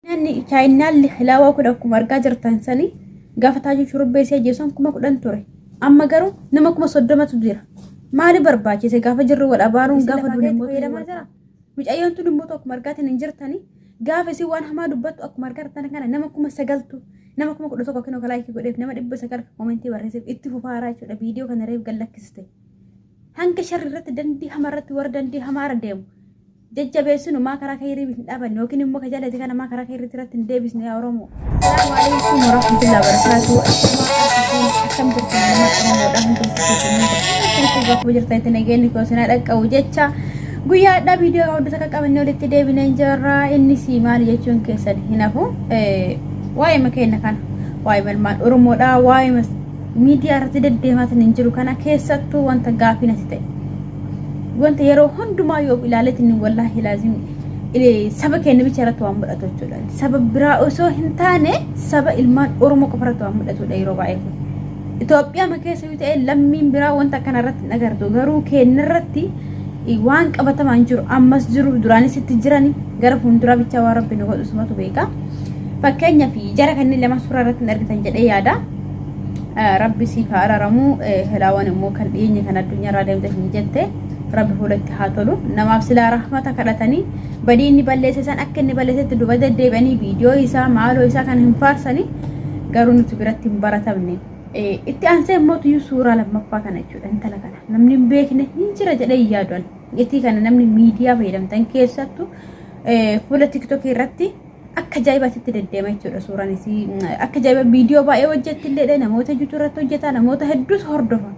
Nyaanni chaayinaalli hilaawaa kun akkuma argaa jirtan sanii gaafa taajuu shurubbee si ajjeesan kuma kudhan ture. Amma garuu nama kuma soddomatu jira. Maali barbaachise gaafa jirru wal abaaruun gaafa duun immoo fayyadamaa jira. Mucayyoon tun immoo akkuma argaatiin hin jirtanii gaafa isin waan hamaa dubbattu akkuma argartan kana nama kuma sagaltu nama kuma kudha tokko kenoo kalaayikii godheef nama dhibba sagal koomentii barreesseef itti fufaaraa jechuudha viidiyoo kana reef gallakkiste. Hanga sharri irratti dandii hamaa irratti warra dandii hamaa irra deemu. jajjabeessu numaa karaa keeyrii hin dhaabanne yookiin immoo ka jaalate kana maa karaa keeyriitti irratti hin deebisne yaa Oromoo. Salaamu alaikum warahmatullahi wabarakatuh. Akkam jirtu nama Oromoodha hundi keessatti bakka jirtan itti nageenyi koo sinaa dhaqqabu jecha guyyaa addaa viidiyoo qabdu takka qabannee walitti deebinee jirra inni sii maali jechuun keessan hin hafu waa'ee makeenya kana waa'ee malmaan Oromoodha waa'ee miidiyaa irratti deddeemaatiin hin jiru kana keessattuu wanta gaafii natti ta'e wanta yeroo hundumaa yoo ilaaleetiin wallaahi laazim saba keenya bicha irratti waan mul'atu jechuudha saba biraa osoo hin taane saba ilmaan oromoo qofa irratti waan mul'atudha yeroo baay'ee kun Itoophiyaa keessa yoo ta'e lammiin biraa wanta kana irratti hin agartu garuu keenya irratti waan qabatamaa hin jiru ammas jiru duraanis itti jirani gara fuulduraa bichaa waan rabbi nu godhu sumatu beeka fakkeenyaaf jara kanneen lama suuraa irratti hin argitan jedhee yaada. rabbi siif haa araramu helaawan immoo kan dhiyeenya kan addunyaarraa deemte hin jette rabbi fuulatti haa tolu namaaf silaa rahmata kadhatanii badii inni balleesse san akka inni balleessetti duba deddeebi'anii viidiyoo isaa maaloo isaa kan hin faarsanii garuu nuti biratti hin baratamne itti aansee immoo tuyyuu suuraa lammaffaa kana jechuudha intala kana namni hin beekne hin jira jedhee hin yaadan itti kana namni miidiyaa fayyadamtan keessattu fuula tiktookii irratti akka ajaa'ibaatti itti deddeema jechuudha suuraan isii akka ajaa'iba viidiyoo baay'ee hojjetti illee namoota hedduu irratti hojjeta namoota hedduus hordofa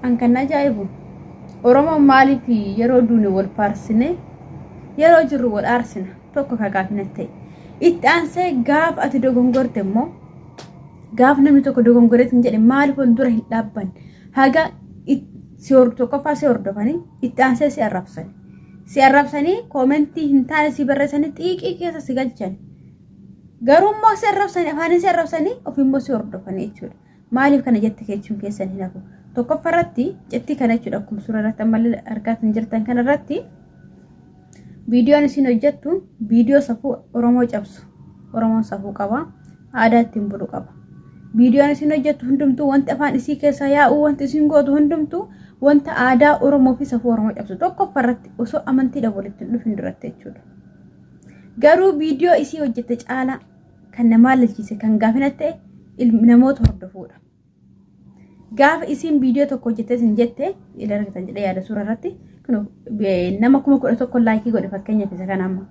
an kan ajaa'ibu oromoon maaliif yeroo duune wal faarsine yeroo jirru wal aarsina tokko kakaafina ta'e itti aansee gaaf ati dogongorte immoo gaaf namni tokko dogongoree hin jedhe maaliif wal dura hin dhaabban haga si hordofu tokkoffaa si hordofanii itti aansee si arrabsani si arrabsanii koomentii hin taane si barreessanii xiiqii keessa si galchan. Garuu immoo si arrabsanii afaanii si arrabsanii ofii immoo si hordofanii jechuudha. Maaliif kana jette jechuun keessan hin hafu. Tokkoffaa irratti jettii kana jechuudha akkuma suuraa irratti ammallee argaa kan jirtan kana irratti viidiyoon isin hojjettu viidiyoo safuu Oromoo cabsu. Oromoon safuu qaba. aadaa ittiin bulu qaba. Viidiyoon isin hojjettu hundumtuu wanti afaan isii keessaa yaa'u wanti isin gootu hundumtuu wanta aadaa Oromoo fi safuu Oromoo cabsu tokkoffaa irratti osoo amantiidhaan walitti hin dhufin duratti jechuudha. Garuu viidiyoo isii hojjette caalaa kan namaa lalchiise kan gaafina ta'e namoota hordofuudha. gaafa isiin viidiyoo tokko hojjette isin jette ila argitan jedhee yaada suura irratti kunu nama kuma kudha tokko laayikii godhe fakkeenyaaf isa kana amma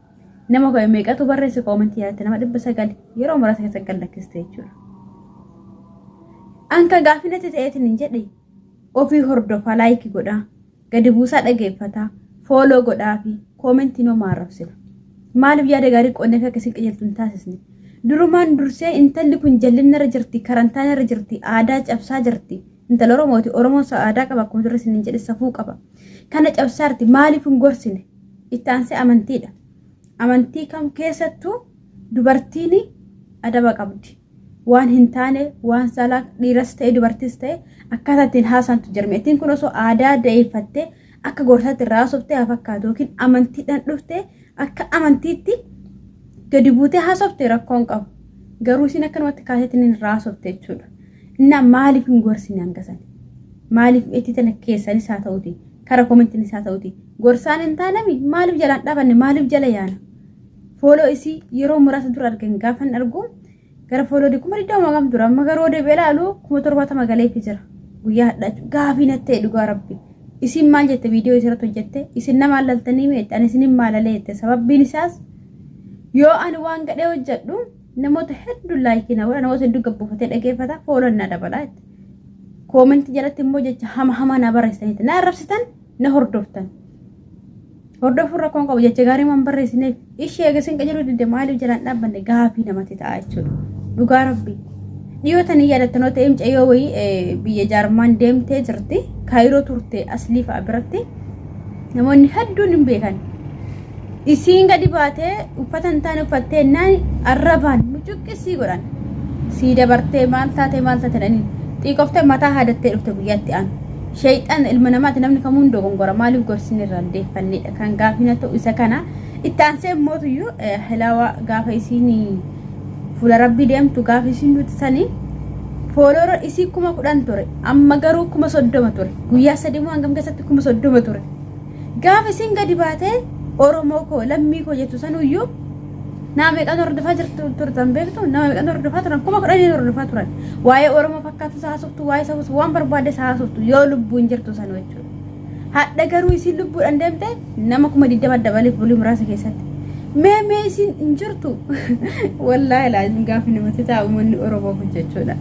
nama godhe meeqatu barreesse koomentii irratti nama dhibba sagal yeroo muraasa keessa gad lakkiste jechuudha. Anka gaafi natti ta'eetiin hin jedhe ofii hordofaa laayikii godhaa Gadi buusaa dhageeffataa, follow godhaa fi comment noo maa arrabsina. Maaliif yaada gaarii qoodnee fi akka isin qajeeltu hin taasisne. Durumaan dursee intalli kun jallinna irra jirti, karantaana irra jirti, aadaa cabsaa jirti. Intala Oromooti, Oromoon sa aadaa qaba akkuma dura isiniin jedhe safuu qaba. Kana cabsaa jirti maaliif hin gorsine? Itti aansee amantiidha. Amantii kam keessattuu dubartiin adaba qabdi. waan hin taane waan saalaa dhiiras ta'e dubartis ta'e akkaataa ittiin haasaantu jira meetiin kun osoo aadaa da'eeffattee akka gorsaatti irraa haasoftee haa fakkaatu yookiin amantiidhaan dhuftee akka amantiitti gadi buutee haasofte rakkoon qabu garuu isin akkanumatti kaaseetiin hin haasofte jechuudha innaa maaliif hin gorsine hanga sana maaliif itti tana keessanis haa ta'uti kara komintinis haa ta'uti gorsaan hin taanami maaliif jalaan dhaabanne maaliif jala yaana Fooloo isii yeroo muraasa dura argan gaafan argu gara fooloo kuma digdama kam dura amma garuu deebi'ee ilaalu kuma torbaatama galeefi jira. Guyyaa hadhaa jechuudha. Gaafii natti ta'e dhugaa rabbi. Isin maal jette viidiyoo isirratti hojjette isin namaan laltanii meette ani isinin maalalee jette sababbiin isaas yoo ani waan gadhee hojjedhu namoota hedduu laayikii na godha namoota hedduu gabbuufatee dhageeffata fooloon na dabalaa jette. Koomentii jalatti immoo jecha hama hama na barreessaniiti na arrabsitan na hordoftan. Hordofuun rakkoon qabu jecha gaarii waan barreessineef ishee egaa isin qajeeluu didde maaliif jalaan dhaabbanne gaafii namatti ta'a jechuudha. Dhugaa rabbi. Dhiyootan hin yaadattan yoo ta'e mucayyoo wayii biyya jaarmaan deemtee jirti. Kaayiroo turte aslii fa'a biratti namoonni hedduun hin beekan. Isiin gadi baatee uffata hin taane uffattee naan arrabaan mucuqqisii godhan. Sii dabartee maal taatee maal taate jedhanii xiiqoftee mataa haadattee dhufte guyyaatti aanu. Sheyxaan ilma namaati namni kamuu hin dogongora maaliif gorsin irraa hin deeffannedha kan gaafina ta'u isa kana itti aansee mootuyyuu hilaawaa gaafa isiin fuula rabbii deemtu gaafa isiin duuti sanii fooloora isii kuma kudhan ture amma garuu kuma soddoma ture guyyaa sadiimoo hangam keessatti kuma soddoma ture gaafa isiin gadi baatee oromoo koo lammii koo jettu sanuyyuu Nama meeqan hordofaa jirtu turtan beektu nama meeqan hordofaa turan kuma kudhaniin hordofaa turan waa'ee Oromoo fakkaatu isaa haasoftu waa'ee sabus waan barbaadde isaa haasoftu yoo lubbuun jirtu san jechuudha. Hadha garuu isin lubbuudhaan deemte nama kuma digdama dabaleef bulii muraasa keessatti. Mee mee isin hin jirtu wallaahi laazim gaafa namatti ta'a uummanni Oromoo kun jechuudha.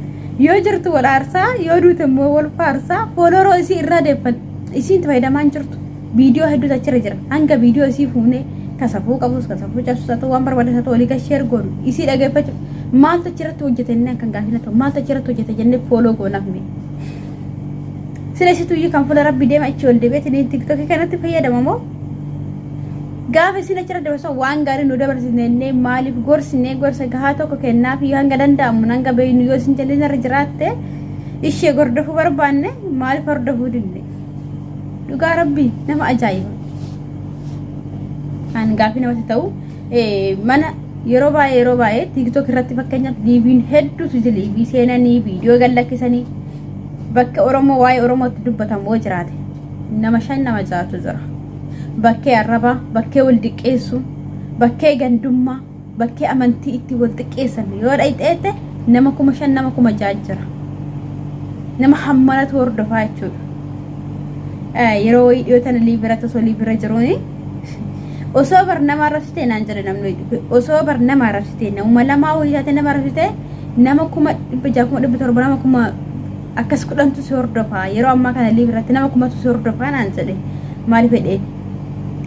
Yoo jirtu wal aarsaa yoo duute immoo wal faarsaa fooloroo isin irraa deeffan isin fayyadamaa hin jirtu. Viidiyoo hedduutu achirra jira. Hanga viidiyoo isii fuunee ka safuu qabus ka safuu cabsus haa ta'u waan barbaadan haa ta'u walii gashee ergoonu isii dhageeffachuuf maaltu achirratti hojjete inni kan gaafii na ta'u maaltu achirratti hojjete jennee fooloo goonaaf mee. Sila isitu iyyuu kan fuula rabbi deema achi ol deebi'eeti ni tiktokii kanatti fayyadama moo gaafa isin achirra dabarsan waan gaarii nu dabarsine maaliif gorsine gorsa gahaa tokko kennaaf yoo hanga danda'amu hanga beeynu yoo isin jallinarra jiraatte ishee gordofuu barbaanne maaliif hordofuu dinne. dhugaa rabbii nama ajaa'iba kan gaafii namatti ta'u mana yeroo baay'ee yeroo baay'ee tiiktook irratti fakkeenyaaf liiviin hedduutu jira liivii seenanii viidiyoo gallakkisanii bakka oromoo waa'ee oromootti dubbatamu yoo jiraate nama shan nama ja'atu jira bakkee arrabaa bakkee wal diqqeessu bakkee gandummaa bakkee amantii itti wal xiqqeessan yoo dhayxeette nama kuma shan nama kuma ja'a jira nama hammalatu hordofaa jechuudha Eh, yeroo wayii dhiyoo tana liibira osoo liibira jiruuni osoo bar nama arrabsitee naan jedhe namni osoo bar nama arrabsitee nama lamaa wayii taate nama arrabsitee nama kuma dhibba ja'a kuma dhibba torba nama kuma akkas kudhantu si hordofaa yeroo ammaa kana liibiratti nama kumatu si hordofaa naan jedhe maal fedhee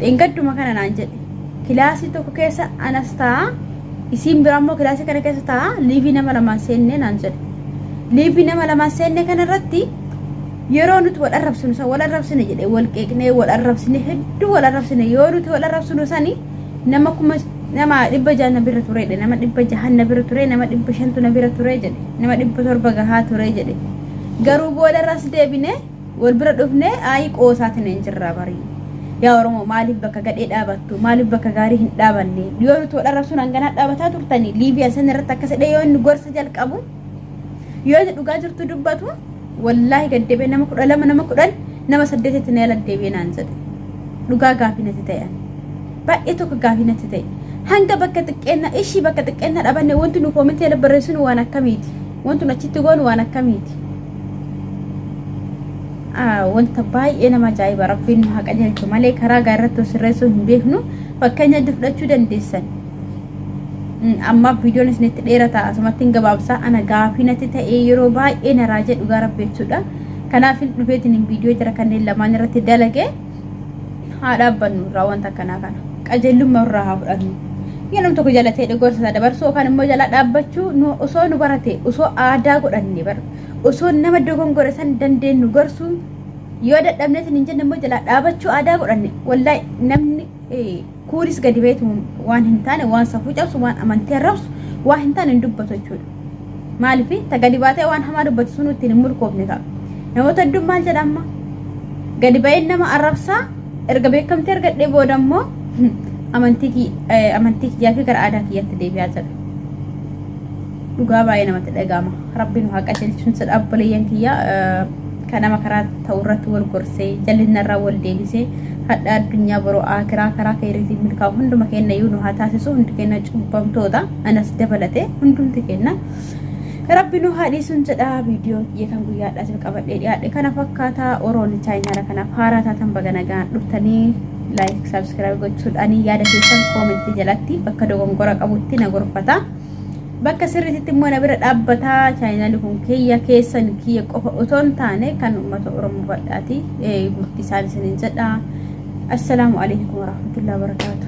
xingadduma kana naan jedhe kilaasii tokko keessa anas ta'a isiin bira ammoo kilaasii kana keessa ta'a liivii nama lamaan seennee naan jedhe liivii nama lamaan seennee kana irratti yeroo nuti wal arrabsinu san wal arrabsine jedhe wal qeeqnee wal arrabsine hedduu wal arrabsine yoo nuti wal arrabsinu sani nama kuma nama dhibba jaha na bira ture jedhe nama dhibba jahan na bira ture nama dhibba shantu na bira ture jedhe nama dhibba torba gahaa ture jedhe garuu booda irras deebine Wal bira dhufne aayii qoosaa tinen jirra bari. Yaa Oromoo maaliif bakka gadhee dhaabattu? Maaliif bakka gaarii hin dhaabanne? Yoo nuti wal arrabsuun hanganaa dhaabataa turtanii Liibiyaa san irratti akkas jedhee yoo inni gorsa jalqabu yoo inni dhugaa jirtu dubbatu wallaahi gaddebee nama kudha lama nama kudhan nama saddeetitti na yaladdeebee naan jedhe. Dhugaa gaafii natti ta'e ani. Baay'ee tokko gaafii natti ta'e. Hanga bakka xiqqeennaa ishii bakka xiqqeennaa dhabanne wanti nu koomentii jala barreessinu waan akkamiiti? Wanti nu achitti goonu waan akkamiiti? wanta baay'ee nama ajaa'iba rabbiin nu haa qajeelchu malee karaa gaarratti sirreessuu hin beeknu fakkeenya itti fudhachuu dandeessan ammaaf viidiyoon isinitti dheerata asumatti hin gabaabsa ana gaafii natti ta'ee yeroo baay'ee na raajee dhugaa rabbi jechuudha kanaaf hin dhufeetiin hin viidiyoo jira kanneen lamaan irratti dalage haa dhaabbannu irraa wanta akkanaa kana qajeellummaa irraa haa fudhannu yoo nam tokko jalatee dhigorsa isaa dabarsuu yookaan immoo jalaa dhaabbachuu nu osoo nu barate osoo aadaa godhanne bar osoo nama dogongore san dandeenyu gorsuu yoo dadhabneetiin hin jenne immoo jalaa dhaabachuu aadaa godhanne wallahi namni eh, Kunis gadi beetuun waan hin taane waan safuu cabsu waan amantii arrabsu waan hin taane hin dubbatu jechuudha. Maaliif ta gadi baatee waan hamaa dubbatu sun ittiin hin mulkoofne ta'a. Namoota hedduun maal jedha amma? Gadi ba'een nama arrabsaa erga beekamtii argadhee booda immoo amantii ki- eh, amantii kiyyaa fi gara aadaa kiyyaatti deebi'aa jedha. Dhugaa baay'ee namatti dhaga'ama. Rabbiin nu haa qajeelchu. Obboleeyyan kiyyaa eh, Ka nama karaa ta'u irratti wal gorsee, jallinna irraa wal deebisee, hadhaa addunyaa boroo aakiraa karaa kheeyriitiin milkaa'u hunduma keenna iyyuu nu haa taasisu, hundi keenna cubbamtoota, anas dabalatee hundumti keenna. Rabbi nu haa dhiisun jedha viidiyoon kiyya kan guyyaa hadhaatiif qabadhee dhiyaadhe kana fakkaata oroonni chaayinaala kanaaf haaraa taatan baga nagaan dhuftanii laayik saabskiraayib gochuudhaanii yaada keessan koomentii jalatti bakka dogongora qabutti na gorfata. bakka sirriitti immoo na bira dhaabbataa chaayinaali kun kiyya keessan kiyya qofa otoo hin taane kan uummata oromoo bal'aati gurti isaan isiniin jedha assalaamu alaikum warahmatullahi wabarakaatu